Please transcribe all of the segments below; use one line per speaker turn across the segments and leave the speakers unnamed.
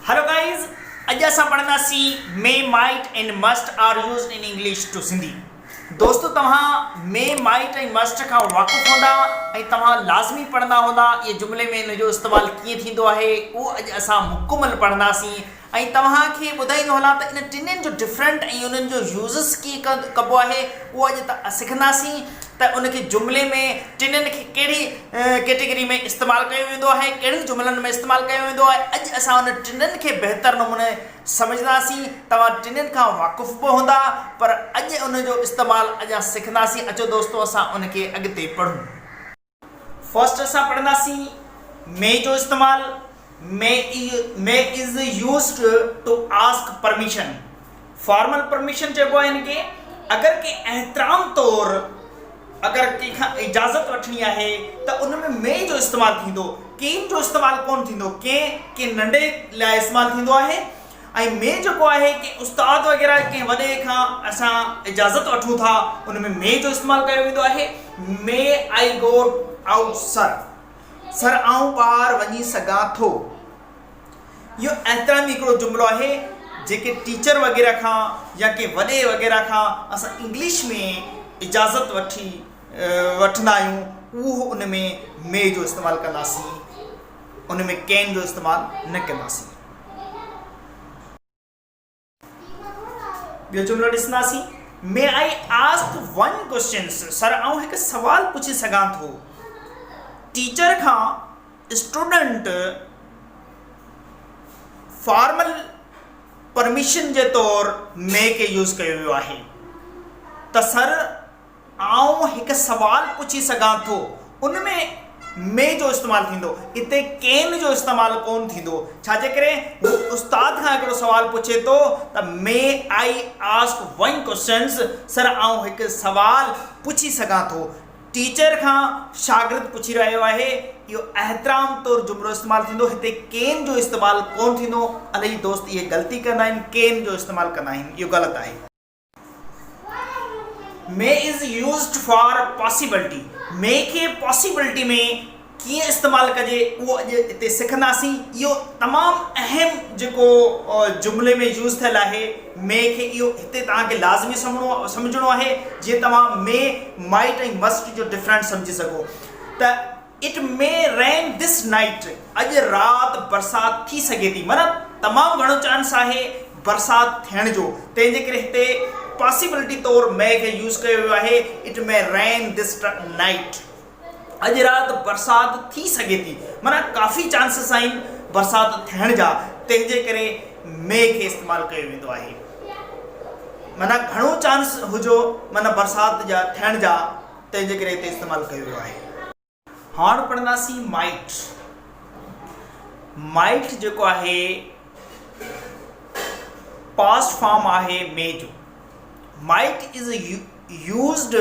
Hello guys اڄ اسان پڙهنداسين May Might and Must are used in English to Sindhi دوستو توهان May Might ۽ Must کان واقف هوندا ۽ توهان لازمي پڙهندا هوندا اهي جملي ۾ ان جو استعمال ڪيئن ٿيندو آهي اهو اڄ اسان مڪمل پڙهنداسين ۽ توهان کي ٻڌائيندو هلان ته ان ٽنهين جو ڊفرنٽ ۽ انهن جو يوزز ڪيئن ڪبو آهي اهو اڄ سکنداسين ته ان کي جملي ۾ ٽنهين کي ڪهڙي ڪيٽيگري ۾ استعمال ڪيو ويندو آهي، ڪهڙن جملن ۾ استعمال ڪيو ويندو آهي، اڄ اسان ان ٽنن کي بهتر نموني سمجهنداسين، توهان ٽنن کان واقف به هوندا، پر اڄ ان جو استعمال اڃا سکنداسين، اچو دوستو اسان ان کي اڳتي پڙهون. فرسٽ اسان پڙهنداسين مي جو استعمال، may is used to ask permission, formal permission چئبو آهي هن کي، اگر ڪنهن احترام طور اگر ڪنهن کان اجازت وٺڻي آهي ته ان ۾ مي جو استعمال ٿيندو، ڪين جو استعمال ڪونه ٿيندو، ڪين ڪنهن ننڍي لاء استعمال ٿيندو آهي ۽ مي جيڪو آهي ڪنهن استاد وغيره ڪنهن وڏي کان اسان اجازت وٺون ٿا ان ۾ مي جو استعمال ڪيو ويندو آهي، مي آئي گو آئوٽ سر. سر آئون ٻاهر وڃي سگهان ٿو. اهو احترامي هڪڙو جملو آهي جيڪي ٽيچر وغيره کان يا ڪنهن وڏي وغيره کان اسان انگلش ۾ اجازت وٺي وٺندا آهيون اهو ان ۾ مي جو استعمال ڪنداسين ان ۾ ڪين جو استعمال نه ڪنداسين. ٻيو جملو ڏسنداسين May I ask one question سر آئون هڪ سوال پڇي سگهان ٿو ٽيچر کان اسٽوڊنٽ فارمل پرميشن جي طور مي کي يوز ڪيو ويو آهي ته سر آئون هڪ سوال پڇي سگهان ٿو، ان ۾ مي جو استعمال ٿيندو، اتي ڪين جو استعمال ڪونه ٿيندو، ڇا جيڪڏهن هو استاد کان هڪڙو سوال پڇي ٿو ته May I ask one questions، سر آئون هڪ سوال پڇي سگهان ٿو، ٽيچر کان شاگرد پڇي رهيو آهي، اهو احترام طور جملو استعمال ٿيندو، هتي ڪين جو استعمال ڪونه ٿيندو، الائي دوست اهي غلطي ڪندا آهن، ڪين جو استعمال ڪندا آهن، اهو غلط آهي. May is used for possibility, may کي پاسيبلٽي ۾ ڪيئن استعمال ڪجي اهو اڄ هتي سکنداسين. اهو تمام اهم جيڪو جملي ۾ يوز ٿيل آهي مي کي اهو هتي توهان کي لازمي سمجهڻو آهي جيئن توهان مي مائٽ ۽ مسٽ جو ڊفرنٽ سمجهي سگهو ته it may rain this night, اڄ رات برسات ٿي سگهي ٿي معنيٰ تمام گهڻو چانس آهي برسات ٿيڻ جو تنهن جي ڪري هتي پاسيبلٽي طور مي کي يوز ڪيو ويو آهي it may rain this night اڄ رات برسات ٿي سگهي ٿي معنيٰ ڪافي چانسز آهن برسات ٿيڻ جا تنهن جي ڪري مي کي استعمال ڪيو ويندو آهي معنيٰ گهڻو چانس هجو معنيٰ برسات جا ٿيڻ جا تنهن جي ڪري هتي استعمال ڪيو ويو آهي. هاڻ پڙهنداسين مائٽ. مائٽ جيڪو آهي پاسٽ فارم آهي مي جو. مائٽ از يوزڊ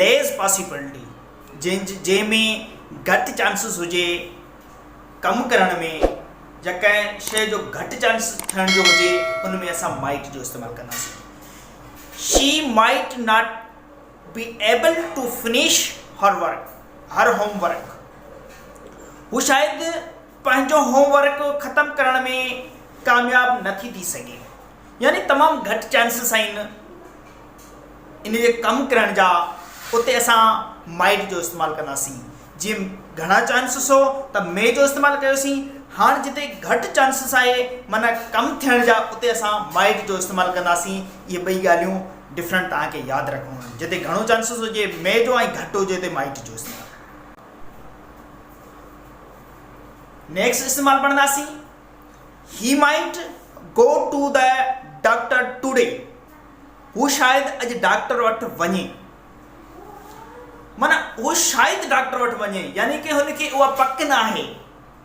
ليس پاسيبلٽي جنهن جنهن ۾ گهٽ چانسز هجي ڪم ڪرڻ ۾ يا ڪنهن شيء جو گهٽ چانس ٿيڻ جو هجي ان ۾ اسان مائٽ جو استعمال ڪنداسين. She might not. Be able to finish her work her home work هو شايد پنهنجو هوم ورڪ ختم ڪرڻ ۾ ڪامياب نه ٿي ٿي سگهي يعني تمام گهٽ چانسز آهن ان جي ڪم ڪرڻ جا اتي اسان مائٽ جو استعمال ڪنداسين جي گهڻا چانسز هو ته مي جو استعمال ڪيوسين هاڻ جتي گهٽ چانسز آهي مانا ڪم ٿيڻ جا اتي اسان مائٽ جو استعمال ڪنداسين اهي ٻئي ڳالهيون ڊفرنٽ توهان کي ياد رکڻو آهي جتي گهڻو چانسز هجي مئي جو ۽ گهٽ هجي اتي مائٽ جو استعمال نيڪسٽ استعمال پڙهنداسين he might go to the doctor today هو شايد اڄ ڊاڪٽر وٽ وڃي مانا هو شايد ڊاڪٽر وٽ وڃي يعني ڪي هن کي اها پڪ نه آهي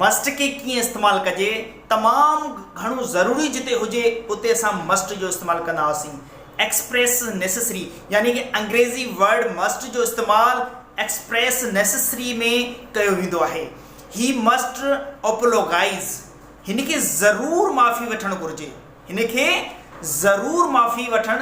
مسٽ کي ڪيئن استعمال ڪجي، تمام گهڻو ضروري جتي هجي اتي اسان مسٽ جو استعمال ڪندا هئاسين. ايڪسپريس نيسيسري يعني ڪي انگريزي ورڊ مسٽ جو استعمال ايڪسپريس نيسيسري ۾ ڪيو ويندو آهي. هي مسٽ اوپولوگائيز هن کي ضرور معافي وٺڻ گهرجي. هن کي ضرور معافي وٺڻ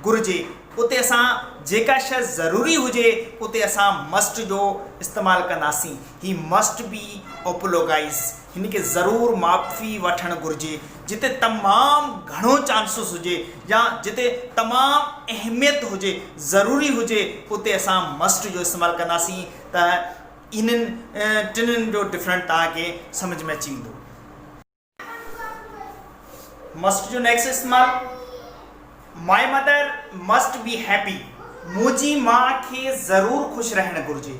گهرجي. اتي اسان جيڪا شيء ضروري هجي اتي اسان مسٽ جو استعمال ڪنداسين. He must be apologise. هن کي ضرور معافي وٺڻ گهرجي. جتي تمام گهڻو چانسز هجي يا جتي تمام اهميت هجي، ضروري هجي اتي اسان مسٽ جو استعمال ڪنداسين ته انهن ٽنهن جو ڊفرنٽ توهان کي سمجهه ۾ اچي ويندو. مسٽ جو نيڪسٽ استعمال my mother must be happy منهنجي ماء کي ضرور خوش رهڻ گهرجي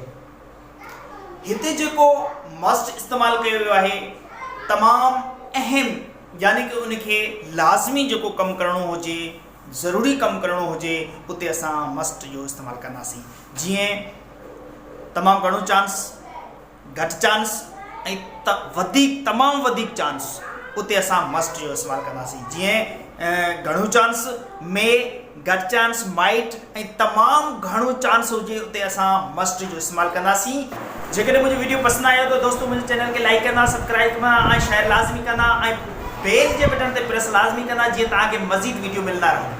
هتي جيڪو مسٽ استعمال ڪيو ويو آهي تمام اهم يعني ڪي ان کي لازمي جيڪو ڪم ڪرڻو هجي ضروري ڪم ڪرڻو هجي اتي اسان مسٽ جو استعمال ڪنداسين جيئن تمام گهڻو چانس گهٽ چانس ۽ ته وڌيڪ تمام وڌيڪ چانس اتي اسان مسٽ جو استعمال ڪنداسين جيئن گهڻو چانس مي گهٽ چانس مائٽ ۽ تمام گهڻو چانس هجي اتي اسان مسٽ جو استعمال ڪنداسين جيڪڏهن منهنجو ويڊيو پسند آيو ته دوستو منهنجي چينل کي لائڪ ڪندا سبسڪرائب ڪندا ۽ شيئر لازمي ڪندا ۽ بيل جي بٽن تي پريس لازمي ڪندا جيئن توهان کي مزيد ويڊيو ملندا رهن